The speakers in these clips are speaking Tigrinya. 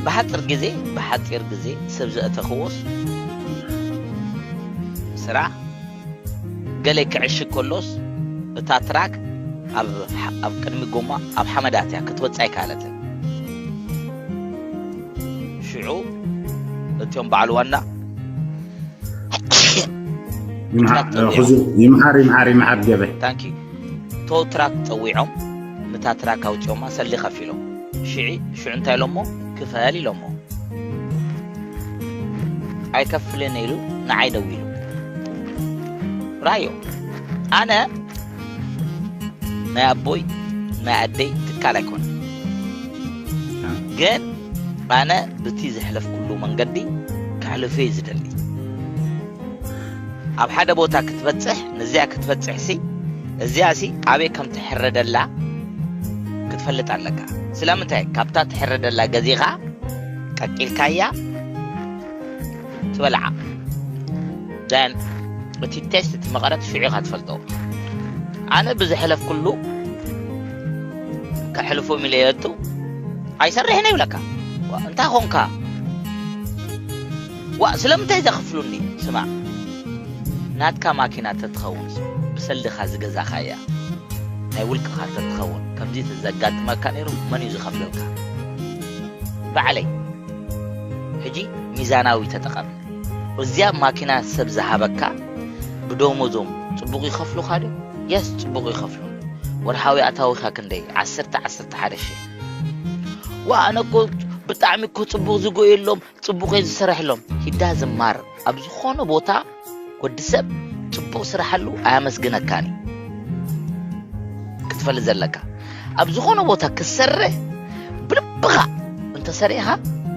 ብሓጽር ግዜ ብሓጺር ግዜ ሰብ ዘእተኽዎስ ስራሕ ገለ ክዕሽግ ከሎስ እታ ትራክ ኣብ ቅድሚ ጎማ ኣብ ሓመድ ኣትያ ክትወጽእ ኣይከኣለትን ሽዑ እትዮም በዓል ዋና ይምሓር ይምሓር ይምሓር ገበ ታንኪ ቶ ትራክ ጸዊዖም ንታ ትራክ ኣውጺኦማ ሰሊ ከፊሎም ሽዒ ሽዑ እንታይ ኢሎሞ ክፈል ኢሎሞ ኣይከፍልን ኢሉ ንዓይ ደዊሉ ራዮ ኣነ ናይ ኣቦይ ናይ ኣደይ ትካል ኣይኮነ ግን ኣነ ብቲ ዘሕለፍኩሉ መንገዲ ከሕልፈ ዝደሊ ኣብ ሓደ ቦታ ክትበጽሕ ነዚኣ ክትበጽሕ ሲ እዚኣ ሲ ኣበይ ከም ትሕረደላ ክትፈልጥ ኣለካ ስለምንታይ ካብታ ትሕረደላ ገዚኻ ቀቂልካያ ትበልዓ ደን እቲ ቴስት እቲ መቐረት ሽዑ ኢኻ ትፈልጦ ኣነ ብዝሕለፍኩሉ ከሕልፎ ሚለየቱ ኣይሰርሕን ይብለካ እንታይ ኾንካ ዋእ ስለምንታይ ዘክፍሉኒ ስማዕ ናትካ ማኪና ተትከውንስ ብሰልድካ ዝገዛካያ ናይ ውልቅካ ተትከውን ከምዚ ተዘጋጥመካ ነይሩ መን እዩ ዝከፍለልካ ባዕለይ ሕጂ ሚዛናዊ ተጠቀም እዚያ ማኪና ሰብ ዝሃበካ ብደሞዞም ጽቡቅ ይከፍሉካ ዶ የስ ጽቡቅ ይከፍሉ ወርሓዊ ኣታዊካ ክንደይ ዓሰርተ ዓሰርተ ሓደ ሽሕ ዋእ ኣነ እኮ ብጣዕሚ እኮ ጽቡቅ ዝጎየሎም ጽቡቕ እዩ ዝስረሕሎም ሂዳ ዝማር ኣብ ዝኾነ ቦታ ወዲ ሰብ ጽቡቕ ስራሕሉ ኣያመስግነካን እዩ ክትፈልጥ ዘለካ ኣብ ዝኾነ ቦታ ክትሰርሕ ብልብኻ እንተሰሪኻ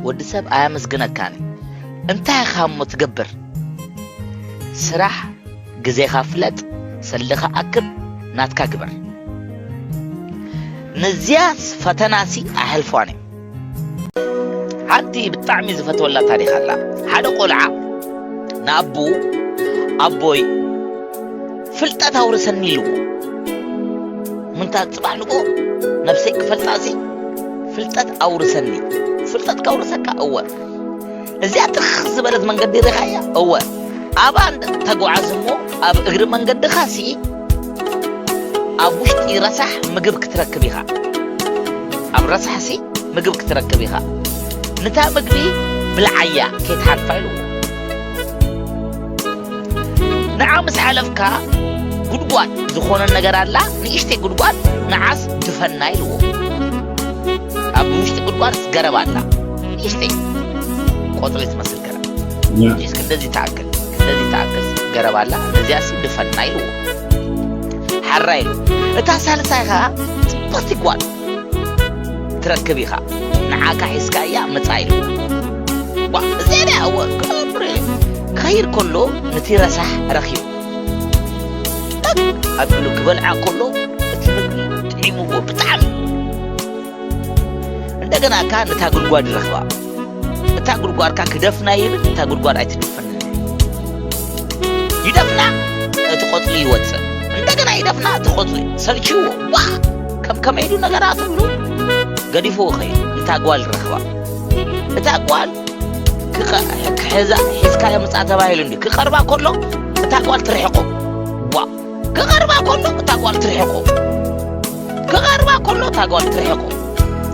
ወዲ ሰብ ኣያመስግነካን እዩ እንታይ ኢኻ እሞ ትገብር ስራሕ ግዜኻ ፍለጥ ሰልኻ ኣክብ ናትካ ግበር ነዚያ ፈተናሲ ኣሕልፏን እዩ ሓንቲ ብጣዕሚ ዝፈትወላ ታሪኽ ኣላ ሓደ ቆልዓ ንኣቡ ኣቦይ ፍልጠት ኣውርሰኒ ኢልዎ ምንታይ ፅባሕ ንጎ ነብሰይ ክፈልጣ ሲ ፍልጠት ኣውርሰኒ ፍልጠት ከውርሰካ እወ እዚኣ ትኽ ዝበለት መንገዲ ርኻያ እወ ኣብ ኣንድ ተጓዓዝ እሞ ኣብ እግሪ መንገድኻ ሲ ኣብ ውሽጢ ረሳሕ ምግብ ክትረክብ ኢኻ ኣብ ረሳሕ ሲ ምግብ ክትረክብ ኢኻ ንታ ምግቢ ብልዓያ ከይትሓልፋ ኢልዎ ንዓ ምስ ሓለፍካ ጉድጓድ ዝኾነ ነገር ኣላ ንእሽተይ ጉድጓድ ንዓስ ድፈና ኢልዎ ኣብ ውሽጢ ጉድጓድስ ገረብ ኣላ ንእሽተይ ቆፅሊ ትመስል ገረብ እዚስ ክንደዚ ትኣክል ክንደዚ ትኣክል ገረብ ኣላ ነዚኣሲ ድፈና ኢልዎ ሓራ ኢሉ እታ ሳልሳይ ከዓ ፅብቕቲ ጓል ትረክብ ኢኻ ንዓካ ሒዝካ እያ ምፃ ኢሉ እዚኣ ክኸይድ ከሎ ነቲ ረሳሕ ረኪቡ ኣቢሉ ክበልዓ ከሎ እቲ ምግቢ ጥዒምዎ ብጣዕሚ እንደገና ካ ነታ ጉድጓድ ይረኽባ እታ ጉድጓድ ካ ክደፍና ይብል እታ ጉድጓድ ኣይትደፍን ይደፍና እቲ ቆፅሊ ይወፅእ እንደገና ይደፍና እቲ ቆፅሊ ሰልችዎ ዋ ከም ከመይ ኢሉ ነገራት ብሉ ገዲፍዎ ኸይዱ እታ ጓል ረኽባ እታ ጓል ክሕዛ ሒዝካዮ ምፃእ ተባሂሉ እንዲ ክቐርባ ከሎ እታ ጓል ትርሕቆ ዋ ክቐርባ ከሎ እታ ጓል ትርሕቆ ክቐርባ ከሎ እታ ጓል ትርሕቆ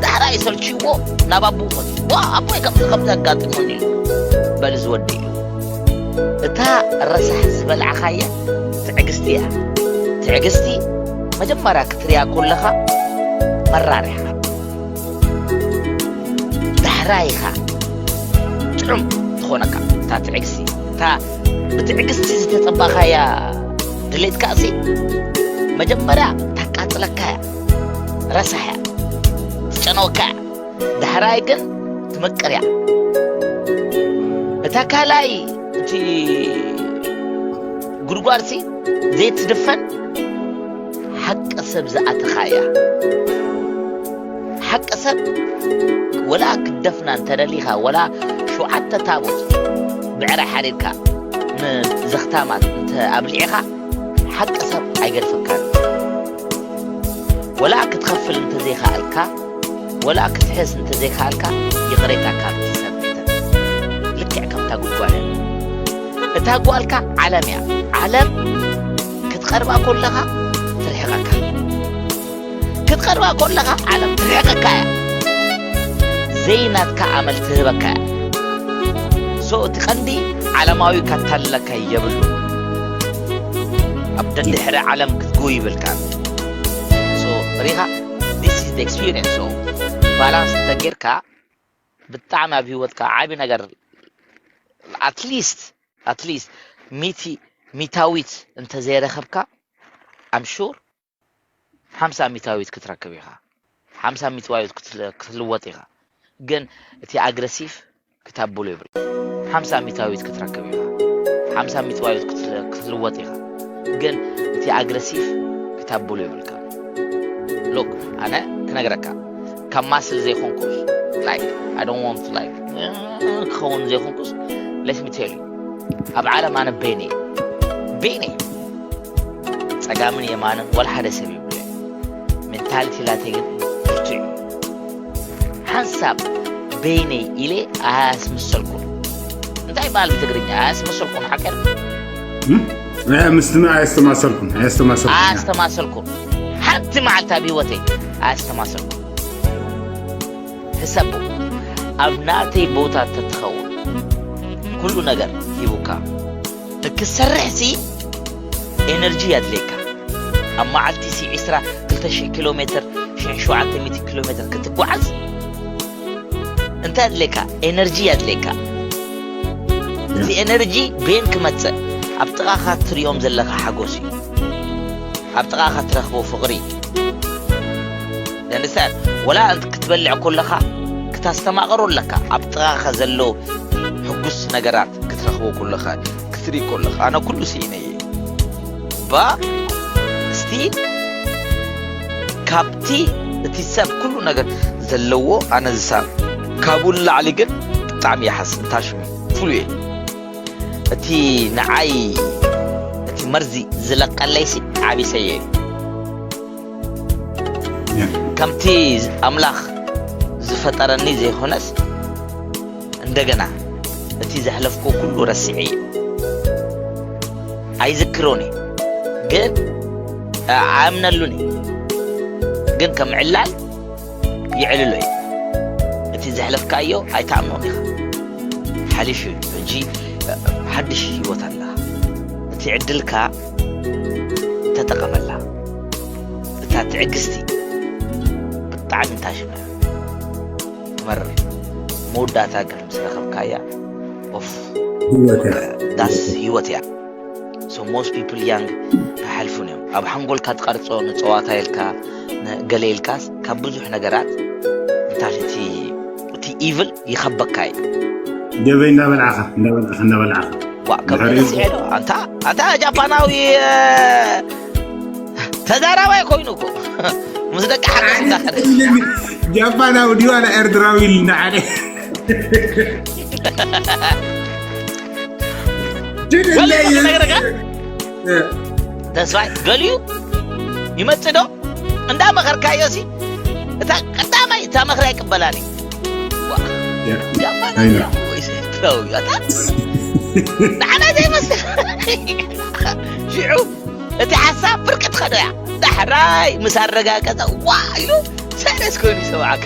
ዛዕባ ይሰልችዎ ናብ ኣቡ ኾት ዋ ኣቦይ ከምዚ ከምዚ ኣጋጢሙኒ ኢሉ በል ዝወዲ እዩ እታ ረሳሕ ዝበልዕኻየ ትዕግስቲ እያ ትዕግስቲ መጀመርያ ክትርያ ኮለኻ መራር እያ ዳሕራይ ኢኻ ጥዑም ዝኾነካ እታ ትዕግስቲ እታ ብትዕግስቲ ዝተጸባኻያ ድሌትካ እሲ መጀመርያ ታቃጽለካ እያ ረሳሕ እያ ትጨነወካ እያ ዳሕራይ ግን ትመቅር እያ እታ ካልኣይ እቲ ጉድጓድሲ ዘይትድፈን ሓቂ ሰብ ዝኣተኻ እያ ሓቂ ሰብ ወላ ክደፍና እንተደሊኻ ወላ ሸውዓተ ታቦት ብዕረ ሓሪርካ ንዘኽታማት እንተ ኣብሊዕኻ ሓቂ ሰብ ኣይገድፈካን ወላ ክትኸፍል እንተዘይከኣልካ ወላ ክትሕስ እንተዘይከኣልካ ይቕሬታ ካብ ትሰብ ልክዕ ከምታ ጉጓለ እታ ጓልካ ዓለም እያ ዓለም ክትቀርባ ኮለኻ ትርሕቐካ ክትቀርባ ኮለኻ ዓለም ትርሕቐካ እያ ዘይናትካ ኣመል ትህበካ እያ ሶ እቲ ቀንዲ ዓለማዊ ካታለካ የብሉ ኣብ ደድሕሪ ዓለም ክትግው ይብልካ ሶ ሪኻ ዲስ ኢዝ ኤክስፒሪንስ ሶ ባላንስ ተጌርካ ብጣዕሚ ኣብ ሂወትካ ዓብዪ ነገር ኣትሊስት ኣትሊስት ሚቲ ሚታዊት እንተ ዘይረኸብካ ኣም ሹር ሓምሳ ሚታዊት ክትረክብ ኢኻ ሓምሳ ሚትዋዊት ክትልወጥ ኢኻ ግን እቲ ኣግረሲቭ ክታብሉ ይብል ሓምሳ ሚታዊት ክትረክብ ኢኻ ሓምሳ ሚትዋዊት ክትልወጥ ኢኻ ግን እቲ ኣግረሲቭ ክታብሉ ይብልካ ሎክ ኣነ ክነግረካ ካብ ማስል ዘይኮንኩስ ላይክ ኣይ ዶንት ዋንት ላይክ ክኸውን ዘይኮንኩስ ሌት ሚ ቴል ዩ ኣብ ዓለም ኣነ ቤኒ ቤኒ ጸጋምን የማንን ወላ ሓደ ሰብ ይብለ ሜንታሊቲ ላተይ ግን ብርቱዕ እዩ ሓንሳብ ቤኒ ኢለ ኣያስምሰልኩን እንታይ በሃል ብትግርኛ ኣያስምሰልኩን ሓቀር እ፣ ምስትና ኣየስተማሰርኩም ኣየስተማሰርኩም ኣያስተማሰልኩም ሓንቲ መዓልቲ ኣብ ህይወተይ ኣያስተማሰልኩም ሕሰቡ ኣብ ናተይ ቦታ ተትኸውን ኩሉ ነገር ሂቡካ ንክሰርሕ ሲ ኤነርጂ የድልየካ ኣብ መዓልቲ ሲ 2 ኪሎ ሜትር 700 ኪሎ ሜትር ክትጓዓዝ እንታይ ኣድልየካ ኤነርጂ ኣድልየካ እዚ ኤነርጂ ቤን ክመፅእ ኣብ ጥቓኻ ትሪኦም ዘለካ ሓጎስ እዩ ኣብ ጥቓኻ ትረኽቦ ፍቕሪ ደንሳት ወላ ክትበልዕ ኮለኻ ክታስተማቕሮ ኣለካ ኣብ ጥቓኻ ዘሎ ሕጉስ ነገራት ክትረኽቦ ኮለኻ ክትርኢ ኮለኻ ኣነ ኩሉ ስኢነ እባ እስቲ ካብቲ እቲ ሰብ ኩሉ ነገር ዘለዎ ኣነ ዝሳብ ካብኡ ንላዕሊ ግን ብጣዕሚ ይሓስ እንታሽሙ ፍሉ እየ እቲ ንዓይ እቲ መርዚ ዝለቀለይሲ ዓቢሰየ ከምቲ ኣምላኽ ዝፈጠረኒ ዘይኮነስ እንደገና እቲ ዘሕለፍኩዎ ኩሉ ረሲዐ እዩ ኣይዝክሮን እዩ ግን ኣእምነሉን እዩ ግን ከም ዕላል ይዕልሎ እዩ እቲ ዘሕለፍካዮ ኣይትኣምኖን ኢኻ ሓሊፍ እዩ ሕጂ ሓድሽ ህይወት ኣላ እቲ ዕድልካ ተጠቐመላ እታ ትዕግስቲ ብጣዕሚ ታሽመ ትመርር መወዳእታ ግን ምስ ረኸብካያ ዳስ ህይወት እያ ሶ ሞስት ፒፕል ያንግ ኣይሓልፉን እዮም ኣብ ሓንጎልካ ትቐርፆ ንፀዋታ ኢልካ ገለ ኢልካስ ካብ ብዙሕ ነገራት እንታይ እቲ እቲ ኢቭል ይኸበካ እዩ ገበይ እንዳበልዓኻ እንዳበልዓኻ እንዳበልዓኻ ዋእ ከምዚ ስዔዶ ኣንታ ኣንታ ጃፓናዊ ተዛራባይ ኮይኑ እኮ ምስ ደቂ ሓገዝ እንዳኸደ ጃፓናዊ ድዩ ኣነ ኤርትራዊ ኢልና ሓደ ተስፋይ ገሊዩ ይመፅእ ዶ እንዳመኸርካዮ ሲ እታ ቀዳማይ እታ መኽሪ ኣይቅበላን እዩ ኣይና ንዓና ዘይመስል ሽዑ እቲ ሓሳብ ብርቂ ትኸዶ እያ ዳሕራይ ምስ ኣረጋገፀ ዋ ኢሉ ሰለስ ኮይኑ ይሰማዓካ